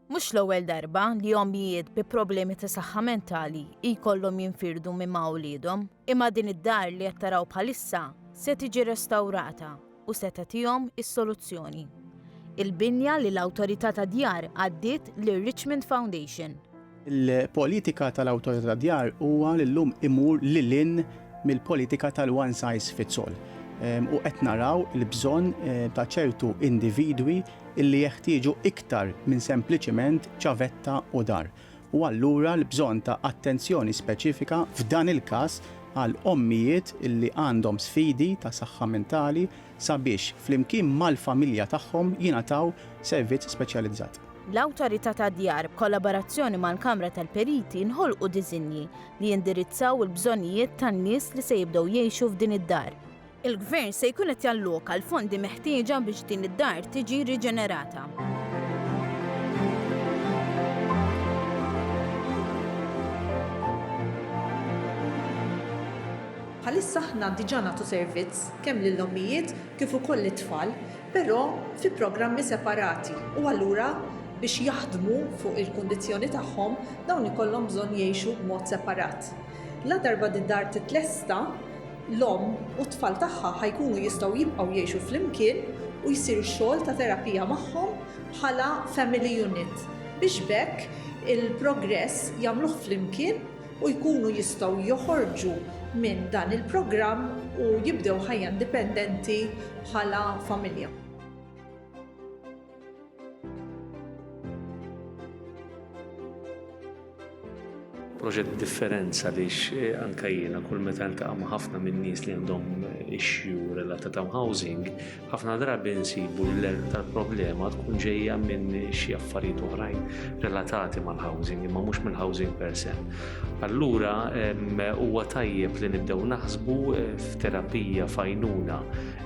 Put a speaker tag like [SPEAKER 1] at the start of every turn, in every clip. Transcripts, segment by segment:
[SPEAKER 1] Mhux l-ewwel darba li ommijiet bi problemi ta' saħħa mentali jkollhom jinfirdu minn ma' uliedhom, imma din id-dar li qed taraw bħalissa se tiġi restawrata u se tagħtihom is-soluzzjoni. Il-binja li l-Awtorità tad-Djar għaddiet lir-Richmond Foundation. Il-politika
[SPEAKER 2] tal-Awtorità tad-Djar huwa li llum imur lil hinn mill-politika tal-one size fits all u qed naraw il-bżonn ta' ċertu individwi li jeħtieġu iktar minn sempliċiment ċavetta u dar. U allura l-bżonn ta' attenzjoni speċifika f'dan il-każ għal ommijiet li għandhom sfidi ta' saħħa mentali, sabiex, flimkien mal-familja tagħhom, jingħataw servizz speċjalizzat. L-Awtorità
[SPEAKER 1] tad-Djar, b'kollaborazzjoni mal-Kamra tal-Periti, nħolqu diżinji li jindirizzaw il-bżonnijiet tan-nies li se jibdew jgħixu f'din id-dar. Il-Gvern se jkun qed jalloka l-fondi meħtieġa biex din id-dar tiġi riġenerata.
[SPEAKER 3] Bħalissa aħna diġà nagħtu servizz kemm lill-ommijiet kif ukoll lit-tfal, però fi programmi separati u allura biex jaħdmu fuq il-kundizzjoni tagħhom dawn ikollhom bżonn jgħixu b'mod separat. Ladarba d-dar titlesta, l-omm u t-tfal tagħha ħa jkunu jistgħu jibqgħu jgħixu flimkien u jsir ix-xogħol ta' terapija magħhom bħala family unit biex b'hekk il-progress jagħmluh flimkien u jkunu jistgħu joħorġu minn dan il-programm u jibdew ħajja indipendenti bħala familja.
[SPEAKER 4] proġett differenza għaliex eh, anka jiena kull meta ntaqa' ma' ħafna minn nies li għandhom issue related to housing, Ħafna drabi nsibu li l-erq tal-problema tkun ġejja minn xi affarijiet oħrajn relatati mal-housing, imma mhux mill-housing per se. Allura huwa tajjeb li nibdew naħsbu eh, f'terapija fajnuna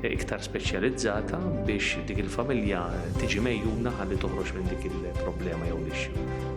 [SPEAKER 4] eh, iktar speċjalizzata biex dik il-familja tiġi mejjuna ħalli toħroġ minn dik il-problema jew l-ixxu.